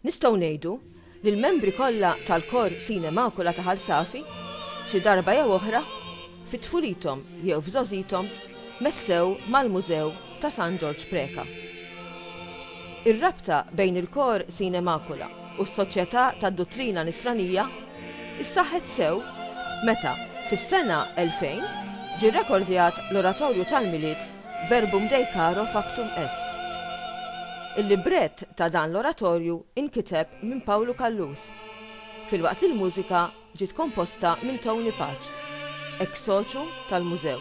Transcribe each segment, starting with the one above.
Nistgħu ngħidu li l-membri kollha tal-Kor Sine Macula ta' Ħal Safi, xi darba jew oħra, fi tfulithom jew f'żgħożithom, messew mal-Mużew ta' San Ġorġ Preca. Ir-rabta bejn il-Kor Sine Macula u s-Soċjetà tad-Duttrina Nisranija ssaħħet sew meta, fis-sena 2000, ġie rrekordjat l-Oratorju tal-Milied Verbum Dei caro factum est. Il-librett ta' dan l-oratorju inkiteb minn Pawlu Callus, filwaqt li l-mużika ġiet komposta minn Tony Pace, ex soċu tal-Mużew.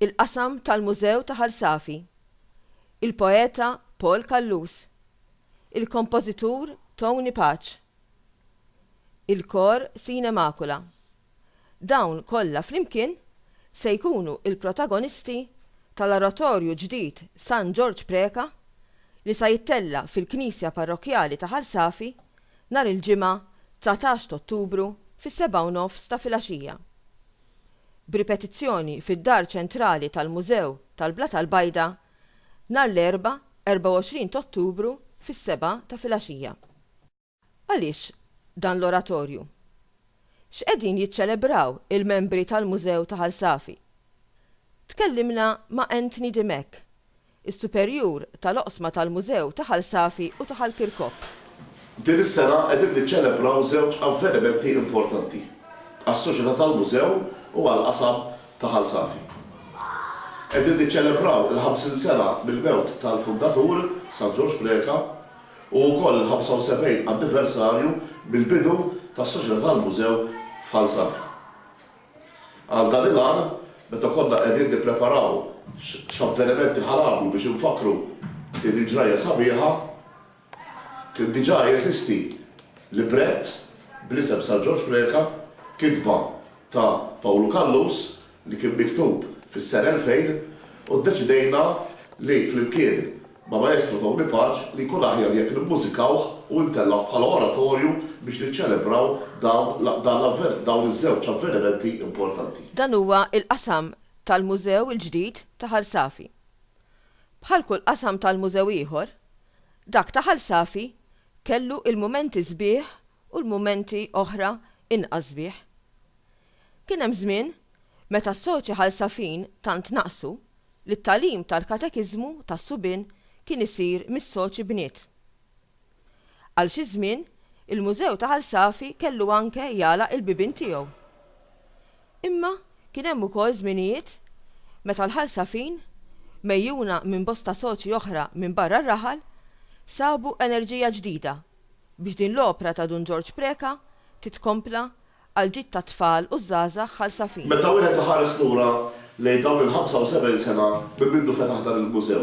il-qasam tal-Mużew ta' Ħal Safi, il-poeta Paul Callus, il-kompożitur Tony Pace, il-kor Sine Macula. Dawn kollha flimkien se jkunu l-protagonisti tal-Oratorju ġdid San Ġorġ Preca li sa jittella' fil-Knisja Parrokkjali ta' Ħal Safi nhar il-Ġimgħa dsatax t'Ottubru fis-sebgħa u nofs ta' filgħaxija. b'ripetizzjoni fid-Dar Ċentrali tal-Mużew tal-Blat Għall-Bajda nhar l-Erbgħa 24 t'Ottubru fis-sebgħa ta' filgħaxija. Għaliex dan l-oratorju? X'qegħdin jiċċelebraw il-membri tal-Mużew ta' Ħal Safi? Tkellimna ma' Anthony Dimech, is-Superjur tal-Oqsma tal-Mużew ta' Ħal Safi u ta' Ħal Kirkop. Din is-sena qegħdin niċċelebraw żewġ avvenimenti importanti għas-Soċjetà tal-Mużew u għall-Qasam ta' Ħal Safi. Qegħdin niċċelebraw il-ħamsin sena mill-mewt tal-fundatur, San Ġorġ Preca, u wkoll il-75 anniversarju mill-bidu tas-Soċjetà tal-Mużew f'Ħal Safi. Għal dan il-għan, meta konna qegħdin nippreparaw x'avvenimenti ħa nagħmlu biex infakkru din il-ġrajja sabiħa, kien diġà jeżisti librett bl-isem San Ġorġ Preca, kitba ta' Pawlu Callus, li kien miktub fis-sena 2000, u ddeċidejna li flimkien Ma' Maestro Tony Paċ li jkun aħjar jekk nimmużikawh u ntellgħuh bħala oratorju biex niċċelebraw dawn l dawn iż-żewġ avvenimenti importanti. Dan huwa il-qasam tal-Mużew il-ġdid ta' Ħal Safi. Bħal kull qasam tal-mużew ieħor, dak ta' Ħal Safi kellu l-mumenti sbieħ u l-mumenti oħra inqas sbieħ. Kien hemm żmien meta s-soċi Ħal Safin tant naqsu li t-tagħlim tal-katekiżmu tas-subien kien isir mis-soċi bniet. Għal xi żmien, il-Mużew ta' Ħal Safi kellu anke jagħlaq il-bibien tiegħu. Imma kien hemm ukoll żminijiet meta l-Ħal Safin, megħjuna minn bosta soċi oħra minn barra r-raħal, sabu enerġija ġdida biex din l-opra ta' Dun Ġorġ Preca titkompla għall-ġid tat-tfal u ż-żgħażagħ Ħal Safin. Meta wieħed iħares lura lejn dawn il-75 sena minn mindu fetaħ dan il-mużew,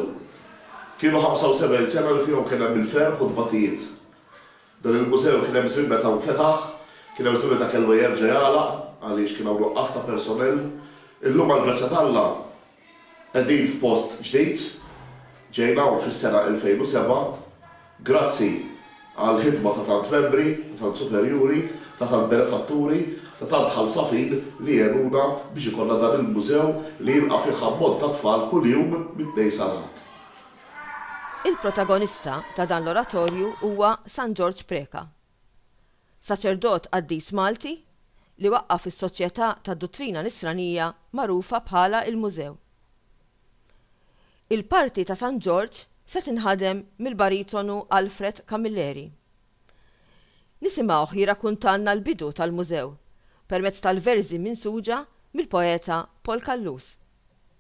kienu 75 sena li fihom kien hemm il-ferħ u t-tbatijiet. Dan il-mużew kien hemm żmien meta nfetaħ, kien hemm żmien meta kellu jerġa' jagħlaq għaliex kien hawn nuqqas ta' personell. Illum għall-grazzja t'Alla, Qegħdin f'post ġdid, ġejna hawn fis-sena 2007, grazzi għall-ħidma ta' tant membri, ta' tant superjuri, ta' tant benefatturi, ta' tant ħalsafin li għenuna biex ikollna dan il-mużew li jilqa' fih ammont ta' tfal kuljum mit-Tnejn sal-Ħadd. Il-protagonista ta' dan l-oratorju huwa San Ġorġ Preca, Saċerdot qaddis Malti li waqqaf is-Soċjetà tad-Duttrina Nisranija magħrufa bħala il-Mużew. Il-parti ta' San Ġorġ se tinħadem mill-baritonu Alfred Camilleri. Nisimgħuh jirrakuntalna l-bidu tal-Mużew permezz tal-verżi minsuġa mill-poeta Paul Callus.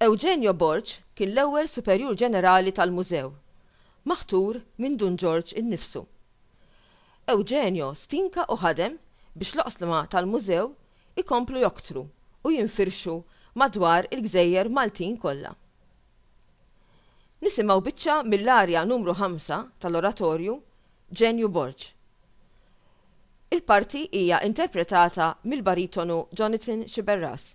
Eugenio Borg kien l-ewwel Superjur Ġenerali tal-Mużew, maħtur minn Dun Ġorġ innifsu. Eugenio stinka u ħadem biex l-oqslma tal-Mużew ikomplu joktru u jinfirxu madwar il-gżejjer Maltin kollha. Nisimgħu biċċa mill-arja numru ħamsa tal-oratorju Ġenju Borg. Il-parti hija interpretata mill-baritonu Jonathan Sciberras.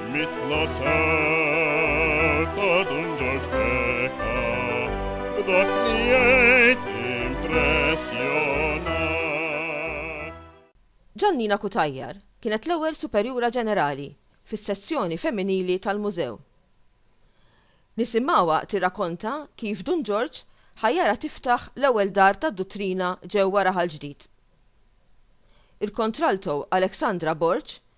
Mitla ser ta' Dun Ġorġ Beka, b'dak li jgħid impressjonat. Ġannina Cutajar kienet l-ewwel Superjura Ġenerali fis-sezzjoni femminili tal-Mużew. Nisimgħuha tirrakonta kif Dun Ġorġ ħajjarha tiftaħ l-ewwel Dar tad-Duttrina ġewwa Raħal Ġdid. Il-Kontralto Alexandra Borg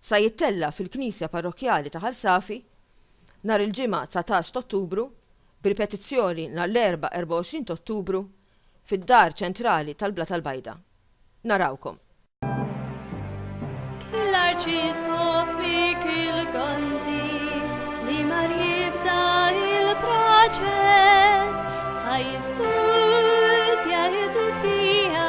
Sa jittella' fil-Knisja Parrokkjali ta' Ħal Safi nhar il-Ġimgħa 19 t'Ottubru, b'ripetizzjoni nhar l-Erbgħa 24 t'Ottubru fid-Dar Ċentrali tal-Blata l-Bajda. Narawkom! Ki l-Arċisqof Mikiel Gonzi li mar jibda il-proċess, ħa jistudja l-Qdusija